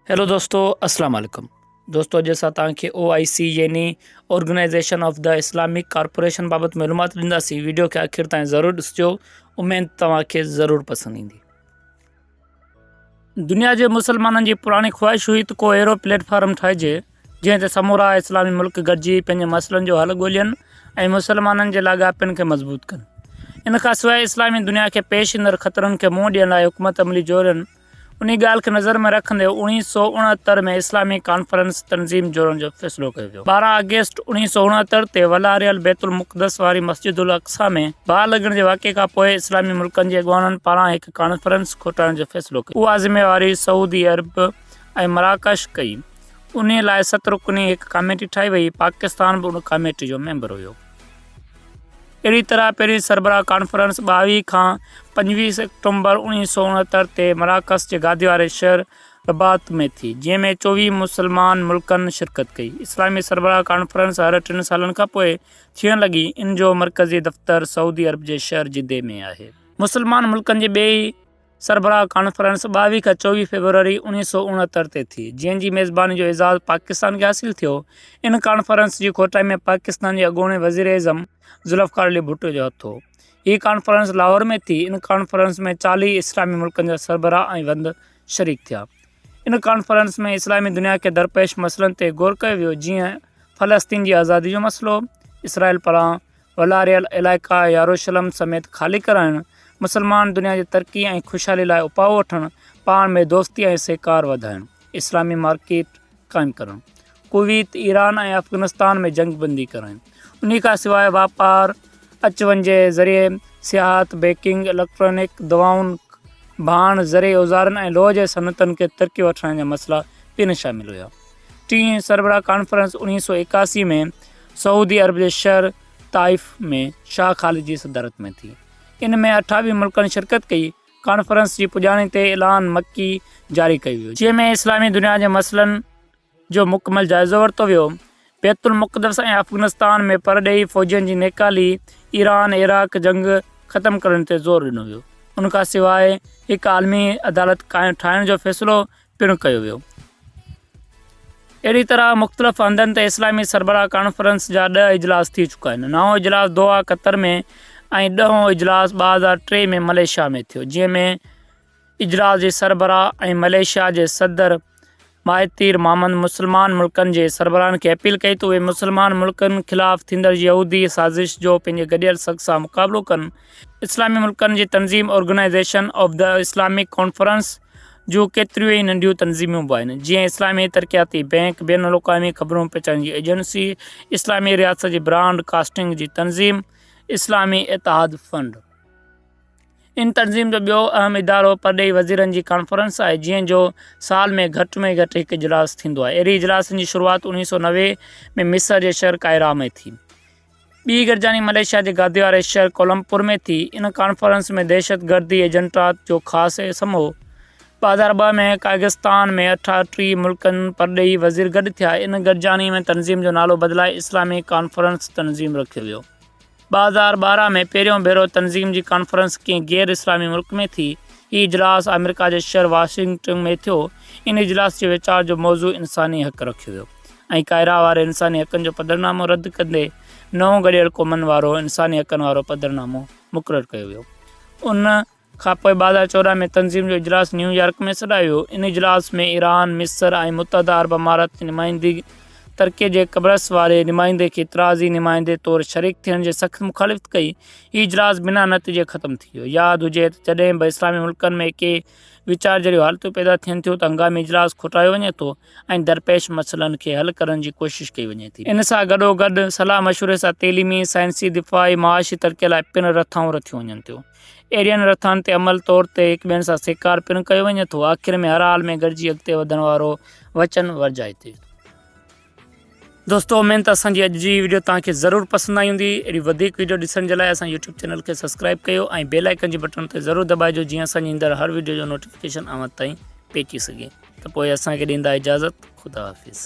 Hello دوستو اسلام عليڪم دوستو اڄ اسان توهان کي او آئي سي يعني organisation of the Islamic corporation بابت معلومات ڏينداسين ويڊيو کي آخر تائين ضرور ڏسجو اميد توهان کي ضرور پسند ايندي دنيا جي مسلمانن جي پراڻي خواهش هئي ته ڪو اهڙو پليٽ فارم ٺاهجي جنهن تي سمورا اسلامي ملڪ گڏجي پنهنجي مسئلن جو حل ڳولين ۽ مسلمانن جي لاڳاپن کي مضبوط ڪن ان کان سواء اسلامي دنيا کي پيش ايندڙ خطرن کي منهن ڏيڻ لاء حڪمت عملي جوڙن انهي ڳالهه کي نظر ۾ رکندي اوڻيهه سؤ اڻهتر ۾ اسلامي ڪانفرنس تنظيم جوڙڻ جو فيصلو ڪيو ويو. ٻارهن آگسٽ اوڻيهه سؤ اڻهتر تي ولاريل بيت المقدس واري مسجد الاقصيٰ ۾ باهه لڳڻ جي واقعي کان پوء اسلامي ملڪن جي اڳواڻن پاران هڪ ڪانفرنس کوٽائڻ جو فيصلو ڪيو ويو. اها ذميواري سعودي عرب ۽ مراڪش کئي. انهي لاء ست رڪني هڪ ڪاميٽي ٺاهي وئي، پاڪستان به ان ڪاميٽي جو ميمبر هيو. اهڙي طرح پهرين سربراهه ڪانفرنس ٻاويهه کان پنجويهه سيڪٽمبر اوڻيهه سؤ اڻهتر تي مراڪش جي گادي واري شهر رباط ۾ ٿي، جنهن ۾ چوويهه مسلمان ملڪن شرڪت ڪئي. اسلامي سربراهه ڪانفرنس هر ٽن سالن کان پوء ٿيڻ لڳي، ان جو مرڪزي دفتر سعودي عرب جي شهر جدي ۾ آهي. مسلمان ملڪن جي ٻئي سربراهه ڪانفرنس ٻاويهه کان چوويهه فيبروري اوڻيهه سؤ اڻهتر تي ٿي، جنهن جي ميزباني جو اعزاز پاڪستان کي حاصل ٿيو. ان ڪانفرنس جي کوٽائي ۾ پاڪستان جي اڳوڻي وزيراعظم ذوالفقار علي ڀٽو جو هٿ هو. هيء ڪانفرنس لاهور ۾ ٿي. ان ڪانفرنس ۾ چاليهه اسلامي ملڪن جا سربراهه ۽ وند شريڪ ٿيا. ان ڪانفرنس ۾ اسلامي دنيا کي درپيش مسئلن تي غور ڪيو ويو، جيئن فلسطين جي آزادي جو مسئلو، اسرائيل پاران والاريل علائقا ياروشلم سميت خالي ڪرائڻ، مسلمان دنيا جي ترقي ۽ خوشحالي لاء اپاء وٺڻ، پاڻ ۾ دوستي ۽ سهڪار وڌائڻ، اسلامي مارڪيٽ قائم ڪرڻ، ڪويت، ايران ۽ افغانستان ۾ جنگ بندي ڪرائڻ، انهي کان سواء واپار، اچ وڃ جي ذريعي، سياحت، بيڪنگ، اليڪٽرانڪ، دواؤن، ڀاڻ، زرعي اوزارن ۽ لوهه جي صنعتن کي ترقي وٺرائڻ جا مسئلا پڻ شامل هيا. ٽين سربراهه ڪانفرنس اڻيهه سؤ ايڪاسي ۾ سعودي عرب جي شهر طائف ۾ شاهه خالد جي صدارت ۾ ٿي ان ۾ اٺاويهه ملڪن شرڪت ڪئي ڪانفرنس جي پڄاڻي تي اعلان مڪي جاري ڪيو ويو جنهن ۾ اسلامي دنيا جي مسئلن جو مڪمل جائزو ورتو ويو بيت المقدس ۽ افغنستان ۾ پرڏيهي فوجين جي نيڪالي ايران عراق جنگ ختم ڪرڻ تي زور ڏنو ويو ان کان سواء هڪ عالمي عدالت ٺاهڻ جو فيصلو پڻ ڪيو ويو. اهڙي طرح مختلف هنڌن تي اسلامي سربراهه ڪانفرنس جا ڏهه اجلاس ٿي چڪا آهن. نائون اجلاس دوحا، قطر ۾ ۽ ڏهون اجلاس ٻه هزار ٽي ۾ ملائيشيا ۾ ٿيو، جنهن ۾ اجلاس جي سربراهه ۽ ملائيشيا جي صدر مهاتير محمد مسلمان ملڪن جي سربراهن کي اپيل ڪئي ته اهي مسلمان ملڪن خلاف ٿيندڙ يهودي سازش جو پنهنجي گڏيل سک سان مقابلو ڪن. اسلامي ملڪن جي تنظيم organisation of the Islamic conference جون ڪيتريون ئي ننڍيون تنظيمون به آهن، جيئن اسلامي ترقياتي بينڪ، بين الاقوامي خبرون پهچائڻ جي ايجنسي، اسلامي رياست جي براڊ ڪاسٽنگ جي تنظيم، اسلامي اتحاد فنڊ. ان تنظيم جو ٻيو اهم ادارو پرڏيهي وزيرن جي ڪانفرنس آهي، جنهن جو سال ۾ گهٽ ۾ گهٽ هڪ اجلاس ٿيندو آهي. اهڙي اجلاسن جي شروعات اوڻيهه سؤ نوي ۾ مصر جي شهر ڪائرا ۾ ٿي. ٻي گڏجاڻي ملائيشيا جي گادي واري شهر ڪولمبپور ۾ ٿي. ان ڪانفرنس ۾ دهشتگردي ايجنٽات جو خاص اسم هو. ٻه هزار ٻه ۾ قائغستان ۾ اٺاهٽيهه ملڪن پرڏيهي وزير گڏ ٿيا. ان گڏجاڻي ۾ تنظيم جو نالو بدلائي اسلامي ڪانفرنس تنظيم رکيو ويو. ٻه هزار ٻارهن ۾ پهريون ڀيرو تنظيم جي ڪانفرنس ڪنهن غير اسلامي ملڪ ۾ ٿي. هي اجلاس آمريڪا جي شهر واشنگٽن ۾ ٿيو. ان اجلاس جي ويچار جو موضوع انساني حق رکيو ويو. ۽ ڪائرا واري انساني حقن جو پڌرنامو رد ڪندي نئون گڏيل قومن وارو انساني حقن وارو پڌرنامو مقرر ڪيو ويو ان کانپوء ٻازار چوڏهن ۾ تنظيم جو اجلاس نيويارڪ ۾ سڏايو ويو ان اجلاس ۾ ايران مصر ۽ متحده عرب امارات جي نمائندي ترڪي جي قبرص واري نمائندي کي اعتراضي نمائندي طور شريڪ ٿيڻ جي سخت مخالفت ڪئي هي اجلاس بنا نتيجي ختم ٿي ويو ياد هجي ته جڏهن به اسلامي ملڪن ۾ ڪي ويچار جهڙيون حالتون پيدا ٿين ٿيون ته هنگامي اجلاس کوٽايو وڃي ٿو ۽ درپيش مسئلن کي حل ڪرڻ جي ڪوشش ڪئي وڃي ٿي. ان سان گڏوگڏ صلاح مشوري سان تعليمي، سائنسي، دفاعي، معاشي ترقي لاء پڻ رٿائون رٿيون وڃن ٿيون. اهڙين رٿائن تي عمل طور تي هڪ ٻين سان سهڪار پڻ ڪيو وڃي ٿو. آخر ۾ هر حال ۾ گڏجي اڳتي وڌڻ وارو وچن ورجائي ٿي. دوستو امين ته اسان جي اڄ جي ويڊيو توهان کي ضرور پسند آئي هوندي اهڙي وڌيڪ ويڊيو ڏسڻ جي لاء اسان يوٽيوب چينل کي سبسڪرائب ڪيو ۽ بيل آئيڪن جي بٽڻ تي ضرور دٻائجو جيئن اسان جي ايندڙ هر ويڊيو جو نوٽيفڪيشن اوهان تائين پهچي سگهي ته پوء اسان کي ڏيندا اجازت خدا حافظ